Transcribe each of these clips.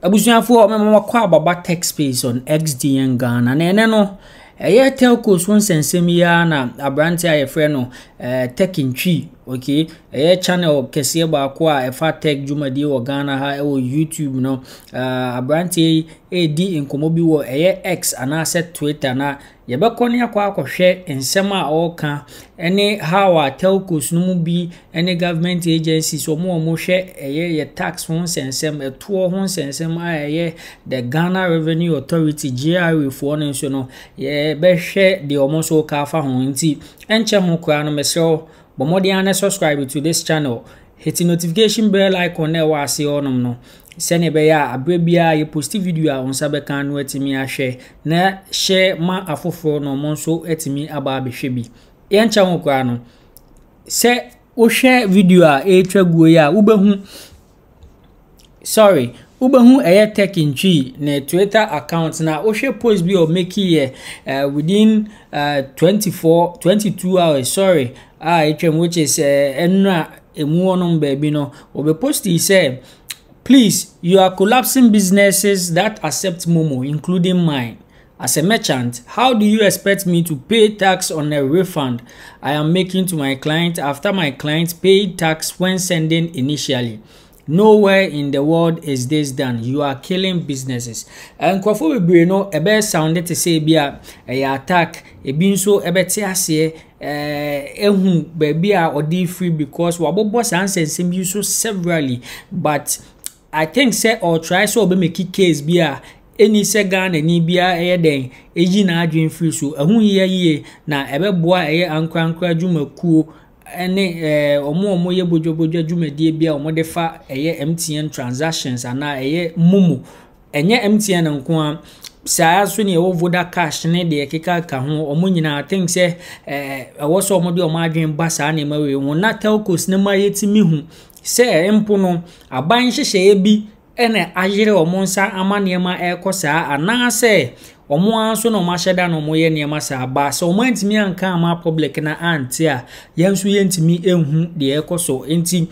Abusuafoɔ mema mo akɔ aba ba tech space on XDN Ghana na ɛnɛ no ɛyɛ telcos ho nsɛnsɛm yi ara na aberanteɛ a yɛfrɛ no eh, tech ntwi okay ɛyɛ channel kɛseɛ baako a ɛfa tech dwumadie wɔ ghana ha ɛwɔ youtube no uh, aberanteɛ yi ɛredi nkɔmmɔ bi wɔ ɛyɛ x anaasɛ twitter na Yɛbɛkɔ ne akɔ akɔhwɛ nsɛm a ɔreka ne how a telcos no mu bi ne government agencies wɔn a wɔhwɛ ɛyɛ yɛ tax ho nsɛnsɛm, ɛtoɔ ho nsɛnsɛm a ɛyɛ the Ghana Revenue Authority GRA foɔ no nso no yɛbɛhwɛ deɛ wɔn nso ka afa ho nti ɛnkyɛ ho koraa no mesrɛ Bɔ mmɔden ara na subscribe to this channel. Hit notification bell icon na ɛwɔ ase hɔnom no sɛnea ɛbɛyɛ a aberɛ biara yɛ post video a wo nsa bɛka no atumi ahwɛ na hyɛ ma afoforɔ na ɔmo nso atumi aba abɛhwɛ bi. Yɛnkyɛ ho koraa no, sɛ wohwɛ video a ɛretwa guo yi a wobɛhu Sorry, wobɛhu ɛyɛ tech ntwi ne Twitter account na wohwɛ post bi a ɔmɛki yɛ uh, within uh, 24 22 hours sorry a uh, ɛtwam which is ɛnura uh, ɛmu hɔnom baabi no wɔbɛ post yi sɛ please you are collapsing businesses that accept momo including mine As a merchant, how do you expect me to pay tax on a refund I am making to my client after my client paid tax when sending initially? Nowhere in the world is this done. You are killing businesses. Nkurɔfo bebree no ɛbɛyɛ sound te sɛ ebi a ɛyɛ attack, ebi nso ɛbɛte aseɛ eh, ehu baabi a ɔde firi because wabobɔ saa nsɛnsɛm yi so severally but I think sɛ ɔretry sɛ ɔbɛ make case bi a ɛni sɛ Ghanani biara ɛyɛ dɛn ɛyi n'adwene firi so. Ɛho hia yie na ɛbɛboa ɛyɛ ankorankora adwumakuo ne eh, wɔn a wɔyɛ bodwabodwa adwumadie bi a wɔde fa ɛyɛ MTN transactions anaa ɛyɛ Momo. Ɛnyɛ MTN nko a, saa nso ne ɛwɔ Voda Cash ne deɛ ɛkekaka ho, wɔn nyinaa I think sɛ eh, ɛwɔ sɛ wɔde wɔn adwene ba saa nneɛma wei ho na telcos no ma yɛtumi hu sɛ mpo no aban nhyehyɛeɛ bi na ayere wɔn nsa ama nneɛma ɛrekɔ saa anaasɛ wɔn ara nso na wɔahyɛ da na wɔyɛ nneɛma saa ba sɛ wɔantumi anka ama public no ante a yɛn nso yɛntumi nhu deɛ ɛrekɔ so nti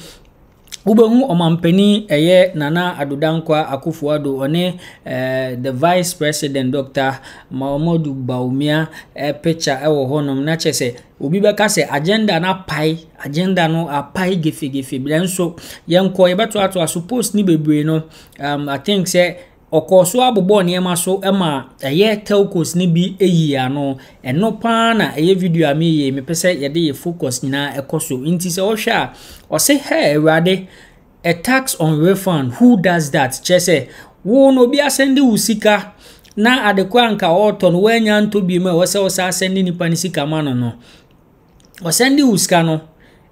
wobɛhu ɔmampanin ɛyɛ nana ado dankwa akufo ado ɔne ɛɛ the vice president dr mahamadu bawumia ɛɛ picture ɛwɔ hɔnom na kyerɛ sɛ Obi bɛka sɛ agenda no apae, agenda no apae gefegefe, nanso yɛnkɔ yɛbɛtoatoa so post ne bebree no, um, I think sɛ ɔkɔɔ so abobɔ nneɛma so ma ɛyɛ telcos no bi eyi ano ɛno paa na ɛyɛ video a meyɛ mepɛ sɛ yɛde yɛ focus nyinaa ɛkɔ so nti sɛ ɔhwɛ a ɔse hɛ awurade A tax on refund, who does that? Kyerɛ sɛ, wo no obi asɛnde wo sika na ade koro anka ɔretɔ no woanya ntɔ bi mu a ɛwɔ sɛ wo saa asɛnde nipa no sika ma no no. Ɔsɛnde wo sika no,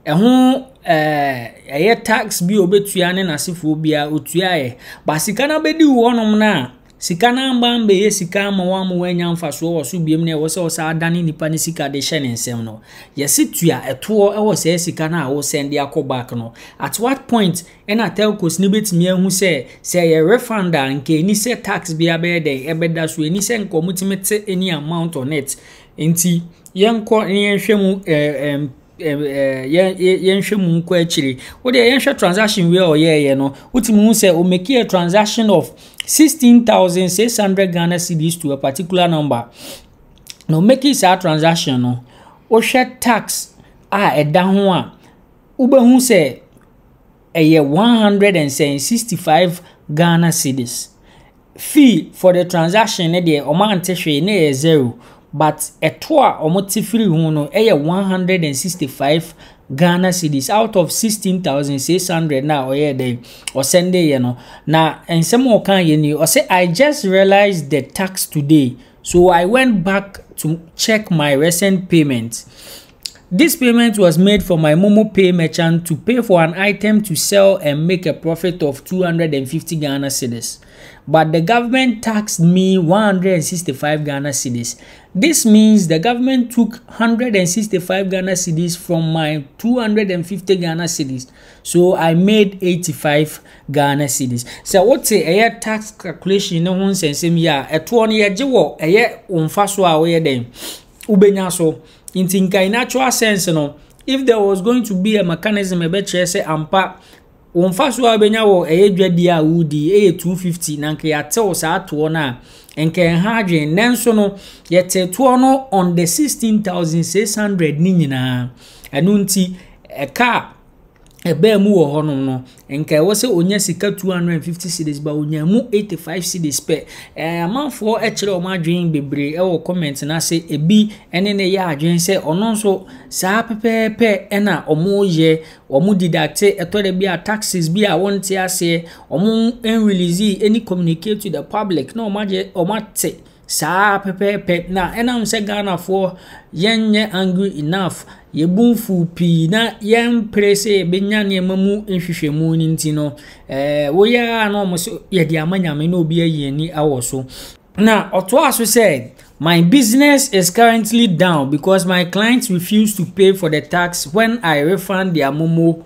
ɛho ɛɛ ɛyɛ tax bi a obetua ne n'asefoɔ biara otuaeɛ. Ba sika no abɛdi wo hɔnom no a, Sika no amma ammɛyɛ sika amma wamma wannya mfasoɔ wɔ so biom na ɛwɔ sɛ ɔsan dane nipa no sika de hyɛ ne nsam no, yɛse tua ɛtoɔ wɔ saa sika no a wo sɛnde akɔ back no. At what point ɛna telcos no bɛtumi ahu sɛ, sɛ ɛyɛ refund a nka ɛni sɛ tax biara bɛyɛ dɛn ɛbɛda so, ɛni sɛ nka wɔtumi te any amount on it. Nti yɛnkɔ na yɛnhwɛ mu eh, eh, yɛnhwɛ mu nkɔ akyire wo deɛ yɛnhwɛ transaction wei a ɔyɛɛyɛ no wotumi hu sɛ omeki a transaction of sixteen thousand six hundred ghana cedis to a particular number na omeki saa transaction no wohwɛ tax a ɛda ho a wobɛhu sɛ ɛyɛ one hundred and sixty five ghana cedis. Fee for the transaction no deɛ wɔn ante hwee na ɛyɛ zero but ɛto a wɔn te firi ho no ɛyɛ one hundred and sixty five Ghana cedis out of sixteen thousand six hundred na ɔyɛ dɛ ɔsɛnde yɛ no na nsɛm a ɔka yɛ ni ɔsɛ I just realized the tax today so I went back to check my recent payments This payment was made from my momo pay merchant to pay for an item to sell and make a profit of 250 Ghana cedis. But the government taxed me 165 Ghana cedis. This means the government took 165 Ghana cedis from my 250 Ghana cedis. So I made 85 Ghana cedis. Sɛ wote ɛyɛ tax calculation ne ho nsɛnsɛm yi a, ɛtoɔ no yɛgye wɔ ɛyɛ wo mfasoɔ a woyɛ dɛn wobɛnya so nti nka in actual sense no if there was going to be a mechanism ɛbɛkyerɛ sɛ ampa wo mfa so a wobɛnya wɔ ɛyɛ dwadie a wodi ɛyɛ 250 na nka yɛatew saa toɔ no a nka ɛha adwene nanso no yɛte toɔ no on the 16600 ne nyinaa ɛno nti ɛka a ɛbaa mu wɔ hɔnom no, nka ɛwɔ sɛ onya sika 250 cedis ba onya mu 85 cedis pɛ. Ɛɛ amanfoɔ kyerɛ wɔn adwene bebree wɔ comment no ase. Ebi ne ne yɛ adwene sɛ ɔno nso saa pɛpɛɛpɛ na wɔyɛ. Wɔn didakte ɛtɔ da bi a taxes bi a wɔnte aseɛ. Wɔn release any communicate to the public na wɔn agye wɔn ate Saa ara pɛpɛɛpɛ na ɛnam sɛ Ghanafoɔ yɛnyɛ angry enough, yɛn bo mfu pii na yɛmpere sɛ yɛbɛnya nneɛma mu nhwehwɛmu no nti no, ɛɛ woyɛ ara na wɔn so yɛde ama nyame na obi ayi ani awɔ so. Na ɔtoa so sɛ, My business is currently down because my clients refuse to pay for the tax when I refund their momo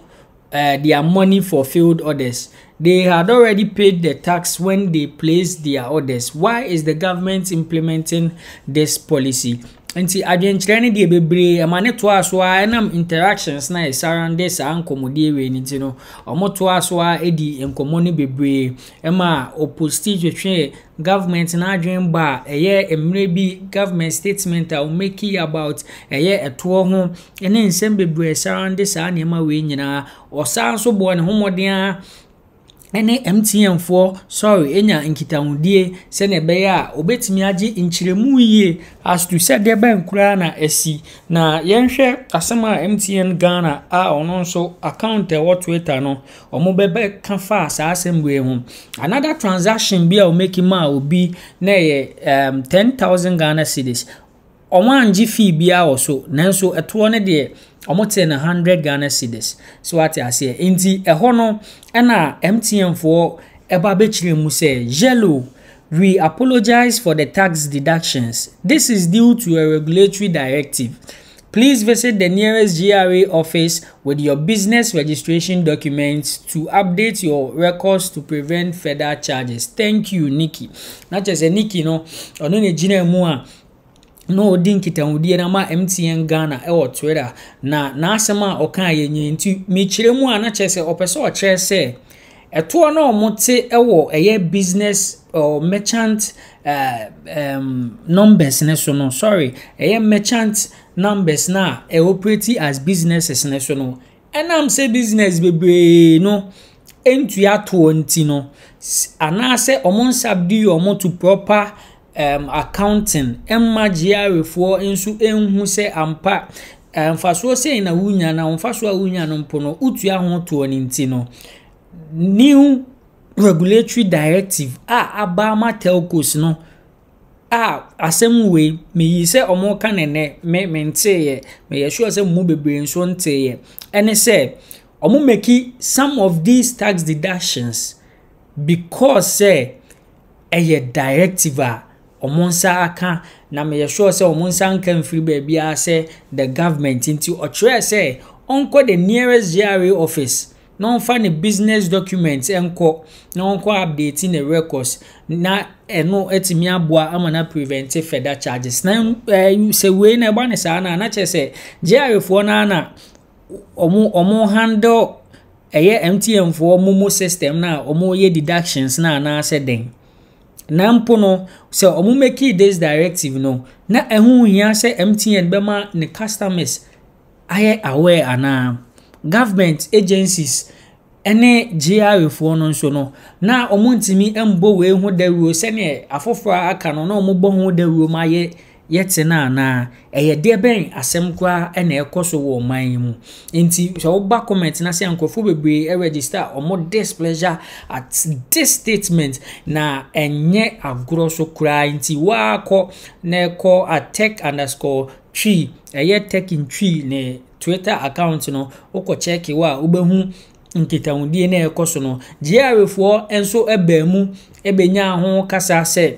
uh, their money for failed orders. They had already paid the tax when they placed their orders. Why is the government implementing this policy? nti adwenkyerɛ no deɛ bebree ɛma ne toa so a ɛnam interactions na ɛsarande saa nkɔmmɔdie wei no nti no wɔn toa so a ɛdi nkɔmmɔ no bebree ɛma oposti twetwe government n'adwen ba a ɛyɛ mmerɛ bi government statement a wɔmaki about ɛyɛ ɛtoɔ ho ne nsɛm bebree a ɛsarande saa nneɛma wei nyinaa. Ɔsan nso bɔɔ ne ho mmɔden ara ne MTNfoɔ sɔre nya nkitahodie sɛdeɛ ɛbɛyɛ a wɔbɛtumi agye nkyerɛmu yie as to sɛ deɛ bɛn koraa na asi. Na yɛnhwɛ asɛm a MTN Ghana a ɔno nso account a ɛwɔ Twitter no wɔbɛbɛka faa saa asɛm wei ho. Another transaction bi a wɔmaki maa obi na ɛyɛ um, ten thousand Ghana cedis. Wɔanngye fee biara wɔ so, nanso toɔ no deɛ wɔtee no hundred Ghana cedis. So wate aseɛ? Nti ɛhɔ no ɛna MTN foɔ ɛba bɛkyerɛ mu sɛ Yello we apologise for the tax deductions this is due to a regulatory directive please visit the nearest GRA office with your business registration documents to update your records to prevent further charges thank you Nikki na kyerɛ sɛ Nikki no ɔno na gyina mu a na ɔdi nkitahodie na ma MTN Ghana ɛwɔ Twitter na n'asɛm a ɔka yɛ nyɛ nti mekyerɛ mu a na kyerɛ sɛ ɔpɛ sɛ ɔkyerɛ sɛ ɛtoɔ na wɔn te ɛwɔ ɛyɛ business or merchant uh, um, numbers ne so no sorry ɛyɛ merchant numbers no a ɛ operate as businesses no so no, ɛnam sɛ business bebree no ntua toɔ nti no, anaasɛ wɔn nsa di wɔn to proper um, accounting mma gyearefoɔ nso nhu sɛ ampa mfasoɔ sɛn na wonya na mfasoɔ a wonya no mpo no wotua ho toɔ no nti no new regulatory directive a aba ama telcos no Ah, asɛm wei, meyii sɛ wɔreka no nnɛ, me menteeɛ. Meyɛ sure sɛ mo mu bebree nso nteeɛ. Ɛne sɛ, wɔn make some of these tax deductions because sɛ ɛyɛ directive a wɔn nsa aka na meyɛ sure sɛ wɔn nsa nka mfiri baabiara sɛ the government nti ɔkyerɛɛ sɛ ɔnkɔ the nearest GRA office na ɔmfa ne business documents nkɔ na ɔnkɔ update ne records na ɛno atumi aboa ama na prevent further charges na eh, sɛ wei na ɛba ne saa no a na kyerɛ sɛ gyarefoɔ no ana ɔmo ɔmo handle ɛyɛ mtn foɔ mo mu system na ɔmo yɛ deductions na anaasɛ dɛn na mpo no sɛ ɔmo make this directive no na ɛho hia sɛ mtn bɛma ne customers ayɛ aware anaa. Government agencies ne GRA foɔ no nso no, na wɔntumi mmɔ wei ho dawuro sɛdeɛ afoforɔ a aka no na wɔbɔ ho dawuro ma yɛ yɛte no anaa. Ɛyɛ deɛ bɛn asɛm koraa na ɛrekɔ so wɔ ɔman yi mu. Nti sɛ woba comment no ase a nkurɔfoɔ bebree register wɔn displeasure at this statement na ɛnyɛ agorɔ so koraa nti woakɔ na ɛkɔ at tech underscore Twi, ɛyɛ Tekin Twi ne Twitter account no, wokɔ check wo a, wobɛhu nkitahodie na ɛkɔ so no. GRAfoɔ nso baa mu bɛnyaa ho kasa sɛ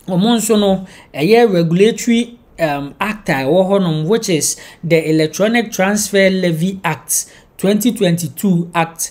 wɔn nso no, ɛyɛ regulatory um, act a ɛwɔ hɔnom which is the Electronic Transfer Levy Act 2022 Act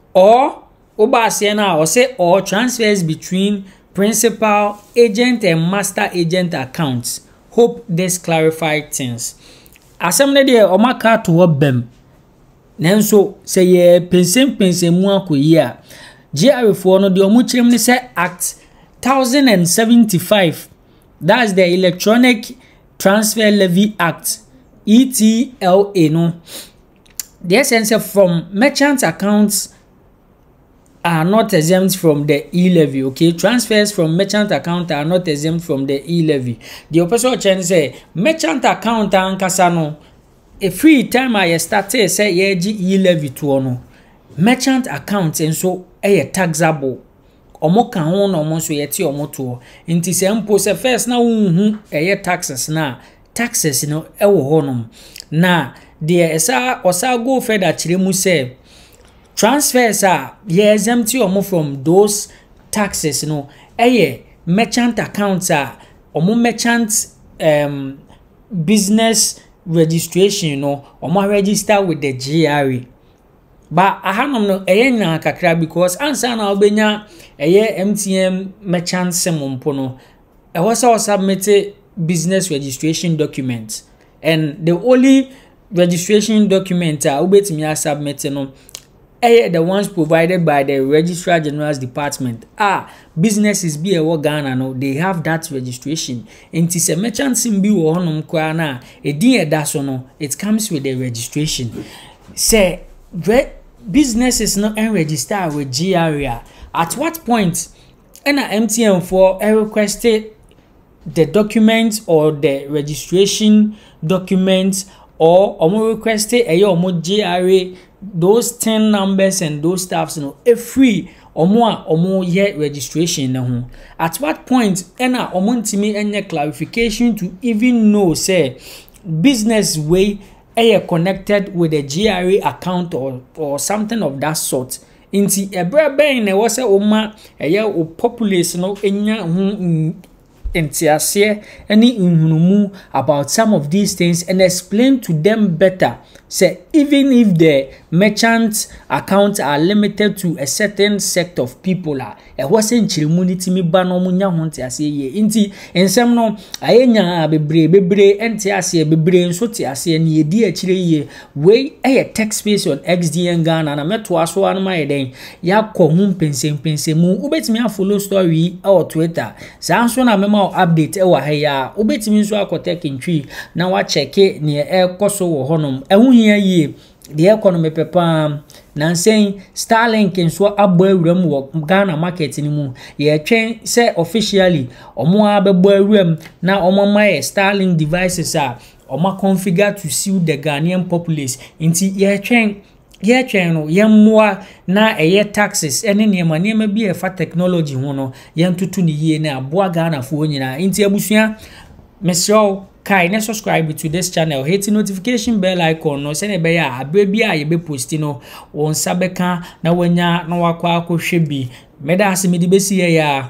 Or wobɔ aseɛ no a ɔse or transfers between principal agent and master agent accounts, hope this clarify things. Asɛm no deɛ ɔmo aka ato hɔ bɛm, nanso sɛ yɛ pensenpensen mu akɔ yie a, GRA foɔ no deɛ ɔmo kyerɛ mu ne sɛ Act 1075, that's the Electronic Transfer Levy Act, ETLA no, Deɛ ɛsɛ ne sɛ from merchant accounts are not exempt from the e-levy okay transfers from merchant account are not exempt from the e-levy deɛ ɔpɛ sɛ ɔkyerɛ ne sɛ merchant account ankasa no ɛfiri time a yɛstartee sɛ yɛregye e-levy toɔ no merchant account nso ɛyɛ taxable wɔn ka ho na wɔn nso yɛte wɔn toɔ nti sɛ mpo sɛ first na wohu ɛyɛ taxes na taxes no wɔ hɔnom. Na deɛ ɛsa ɔsa go further kyerɛ mu sɛ transfers a yɛ exempt wɔn from those taxes no yɛ merchant accounts a wɔn merchant um, business registration no wɔn register with the GRA. ba ahanom no ɛyɛ nyaa kakra because ansa na wobɛnya ɛyɛ mtn merchant sim mpo no Ɛwɔ sɛ wo submit business registration document and the only registration document a wobɛtumi a submit no ɛyɛ the ones provided by the registrar general's department a businesses bi a ɛwɔ ghana no they have that registration nti sɛ merchant sim bi wɔ hɔnom koraa no a ɛdin ɛda so no it comes with the registration sɛ businesses no ɛnregister wɔ gra at what point Ɛna MTN foɔ request the document or the registration document or wɔn request ɛyɛ wɔn GRA those ten numbers and those stuffs no ɛfiri wɔn a wɔyɛ registration no ho at what point ɛna wɔn ntumi nyɛ clarification to even know sɛ business wei ɛyɛ connected with the GRA account or or something of that sort Enti ɛberɛ bɛn na ɛwɔ sɛ woma ɛyɛ wo populace no nya ho nteaseɛ ne nhunumu about some of these things and explain to them better sɛ even if the merchant accounts are limited to a certain sect of people a Ɛhɔ sɛ nkyeremu no tumi ba na wɔnya ho nteaseɛ yie. Nti nsɛm no ayɛ nyaa bebree bebree nte aseɛ bebree nso te aseɛ ne yɛdi akyire yie. Wei yɛ Tech Space on XDN Ghana na mɛtoa so ara no mayɛ dɛn yɛakɔ ho mpɛnsɛmpɛnsɛmu. Wobɛtumi afollow story yi wɔ Twitter saa nso na mɛma wo update wɔ ha yi ara. Wobɛtumi nso akɔ Tech Ntwi na wakyɛke neɛ ɛrekɔ so wɔ hɔnom. Ɛho hia yie Deɛ ɛkɔ no mepɛ paa. Nansa yi, Starlink nso abɔ awuram wɔ Ghana market no mu. Yɛretwɛn sɛ officially wɔn ara bɛbɔ awuram na wɔama yɛ Starlink devices a wɔaconfigure to suit the Ghanaian populace. Nti yɛretwɛn, yɛretwɛn no, yɛmmoa na ɛyɛ taxes ne nneɛma nneɛma bi a ɛfa technology ho no, yɛntoto no yie na aboa Ghanafoɔ nyinaa. Nti abusua, Mesrɛ wo, kae ne subscribe to this channel. Hit notification bell icon no sɛnea ɛbɛyɛ a abere bi a yɛbɛ post no, wo nsa bɛka na wanya na wakɔ akɔhwɛ bi. Meda ase mede bɛsi yɛ ya.